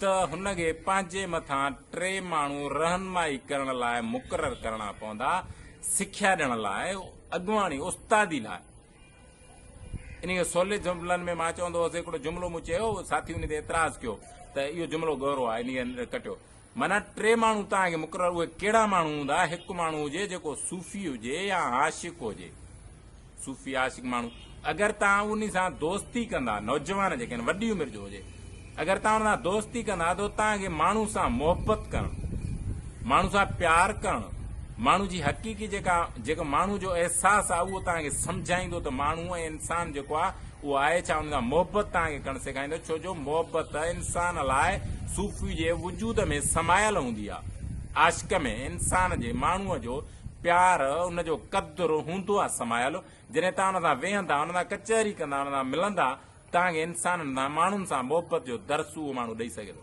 ته هن کي پنهنجي مٿان ٽي ماڻهو رهنمائي ڪرڻ لاء مقرر ڪرڻا پوندا، سکيا ڏيڻ لاء، اڳواڻي، استادي لاء. انهيء کي سولي جملن ۾ مان چوندو هوس، هڪڙو جملو مون چيو، ساٿي ان تي اعتراض ڪيو ته اهو جملو ڳورو آهي، انهيء کي ڪٽيو. معنيٰ ٽي ماڻهو توهان کي مقرر اهي ڪهڙا ماڻهو هوندا هڪ ماڻهو هجي جيڪو صوفي هجي يا عاشق هجي صوفي عاشق ماڻهو اگر توهان انهي سان دوستي ڪندا نوجوان جيڪي آهن وڏي عمر جو هجي اگر توهان ان سان دوستي ڪندا ته توهان کي ماڻهو سان محبت ڪرڻ ماڻهو سان پيار ڪرڻ ماڻهو جي حقيقي جيڪا جيڪو ماڻهو جو احساس آهي اهو توهان کي سمجهائيندو ته ماڻهو ۽ انسان جيڪو آهي اهو آهي ڇا ان سان محبت توهان کي ڪرڻ سيکاريندو ڇو جو محبت انسان لاء صوفي جي وجود ۾ سمايل هوندي آهي عاشق ۾ انسان جي ماڻهو جو پيار ان جو قدر هوندو آهي سمايل جڏهن توهان ان سان ويهندا ان سان ڪچهري ڪندا ان سان ملندا توهان کي انسانن سان ماڻهن سان محبت جو درس اهو ماڻهو ڏئي سگهي ٿو.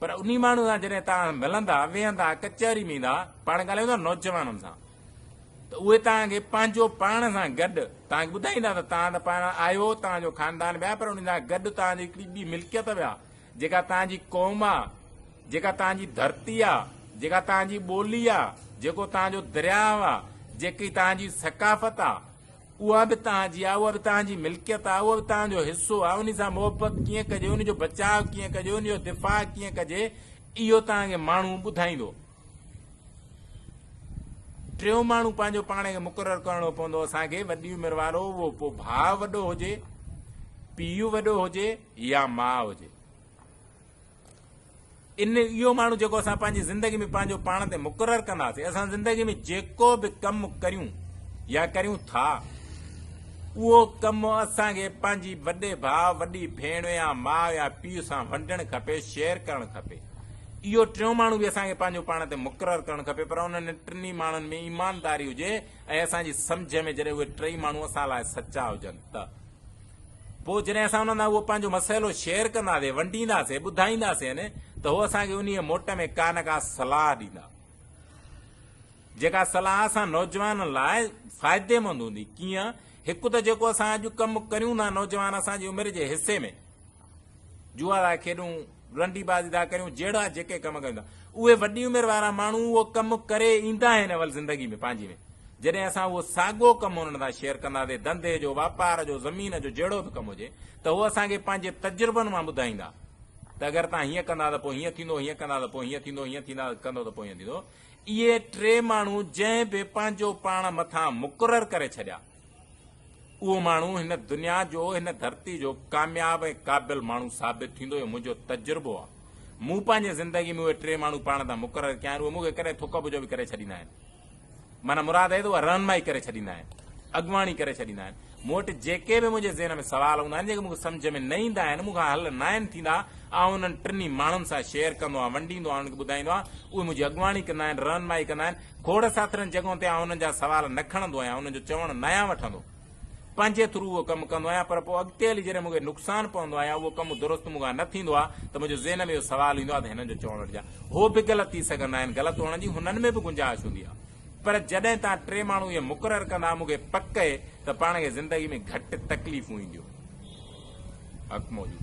پر انهي ماڻهو سان جڏهن توهان ملندا، ويهندا، ڪچهري ۾ ايندا، پاڻ ڳالهائيندا نوجوانن سان ته اهي توهان کي پنهنجو پاڻ سان گڏ توهان کي ٻڌائيندا ته توهان ته پاڻ آهيو، توهان جو خاندان به آهي پر انهي سان گڏ توهان جي هڪڙي ٻي ملڪيت به آ جيڪا توهان جي قوم آ، جيڪا توهان جي ڌرتي آ، جيڪا توهان جي ٻولي آ، جيڪو توهان جو درياهه آ، جيڪي توهان جي ثقافت آ. اها به توهان جي آهي، اها به توهان جي ملڪيت آهي، اها به توهان جو حصو آهي، ان سان محبت ڪيئن ڪجي، ان جو بچاء ڪيئن ڪجي، ان جو دفاع ڪيئن ڪجي، اهو توهان کي ماڻهو ٻڌائيندو. ٽيون ماڻهو پنهنجو پاڻ کي مقرر ڪرڻو پوندو اسان کي، وڏي عمر وارو، اهو پوء ڀاء وڏو هجي، پيء وڏو هجي يا ماء هجي. ان اهو ماڻهو جيڪو اسان پنهنجي زندگي ۾ پنهنجو پاڻ تي مقرر ڪنداسين اسان زندگي ۾ جيڪو به ڪم ڪريون يا ڪريون ٿا اهو ڪم اسان کي پنهنجي وڏي ڀاء وڏي ڀيڻ يا ماء يا پيء سان ونڊڻ کپي شيئر ڪرڻ کپي اهو ٽيون ماڻهو به اسان کي پنهنجو پاڻ تي مقرر ڪرڻ کپي پر انهن ٽنهي ماڻهن ۾ ايمانداري هجي ۽ اسان جي سمجھ ۾ جڏهن اهي ٽئي ماڻهو اسان لاء سچا هجن ته پوء جڏهن اسان انهن سان اهو پنهنجو مسئلو شيئر ڪنداسين، ونڊينداسين، ٻڌائينداسين ته هو اسان کي انهيء موٽ ۾ ڪا نه ڪا صلاح ڏيندا، جيڪا صلاح اسان نوجوانن لاء فائديمند هوندي. ڪيئن؟ هڪ ته جيڪو اسان اڄ ڪم ڪريون ٿا، نوجوان اسان جي عمر جي حصي ۾ جوا ٿا کيڏون، رنڊي باز ادا ڪريون جهڙا جيڪي ڪم ڪيون ٿا اهي وڏي عمر وارا ماڻهو اهو ڪم ڪري ايندا آهن اول زندگي ۾ پنهنجي ۾ جڏهن اسان اهو ساڳو ڪم انهن سان شيئر ڪنداسين ڌنڌي جو واپار جو زمين جو جهڙو به ڪم هجي ته هو اسان کي پنهنجي تجربن مان ٻڌائيندا ته اگر تان هيئن ڪندا ته پوء هيئن ٿيندو هيئن ڪندا ته پوء هيئن ٿيندو هيئن ٿيندا ڪندو ته پوء هيئن ٿيندو اهي ٽي ماڻهو جنهن به پنهنجو پاڻ مٿان مقرر ڪري ڇڏيا اهو ماڻهو هن دنيا جو هن ڌرتي جو ڪامياب ۽ قابل ماڻهو ثابت ٿيندو اهو منهنجو تجربو آ مون پنهنجي زندگي ۾ اهي ٽي ماڻهو پاڻ تان مقرر ڪيا آهن اهي مون کي ڪڏهن ٿڪ ٻجهو به ڪري ڇڏيندا آهن معنيٰ مراد اهي ته اهي رهنمائي ڪري ڇڏيندا آهن اڳواڻي ڪري ڇڏيندا آهن مون وٽ جيڪي به منهنجي ذهن ۾ سوال هوندا آهن جيڪي مون کي سمجهه ۾ نه ايندا آهن مون کان حل ناهن ٿيندا آئون انهن ٽنهي ماڻهن سان شيئر ڪندو آهيان ونڊيندو آهيان انهن کي ٻڌائيندو آهيان اهي منهنجي اڳواڻي ڪندا آهن رهنمائي ڪندا آهن کوڙ ساٿرين جڳهن تي آئون انهن جا سوال نه کڻندو آهيان انهن جو چوڻ ناهيان وٺندو پنهنجي ٿرو اهو ڪم ڪندو آهيان پر پوء اڳتي هلي جڏهن مونکي نقصان پوندو آهي يا اهو ڪم درست مونکان نه ٿيندو آهي ته منهنجي ذهن ۾ اهو سوال ايندو آهي ته هنن جو چوڻ وٽ جا هو به غلط ٿي سگهندا آهن غلط هئڻ جي هنن ۾ به گنجائش هوندي آهي پر جڏهن تان ٽي ماڻهو اهي مقرر ڪندا مونکي پڪ اهي ته پاڻ کي زندگي ۾ گهٽ تڪليفون اينديون حق موجود.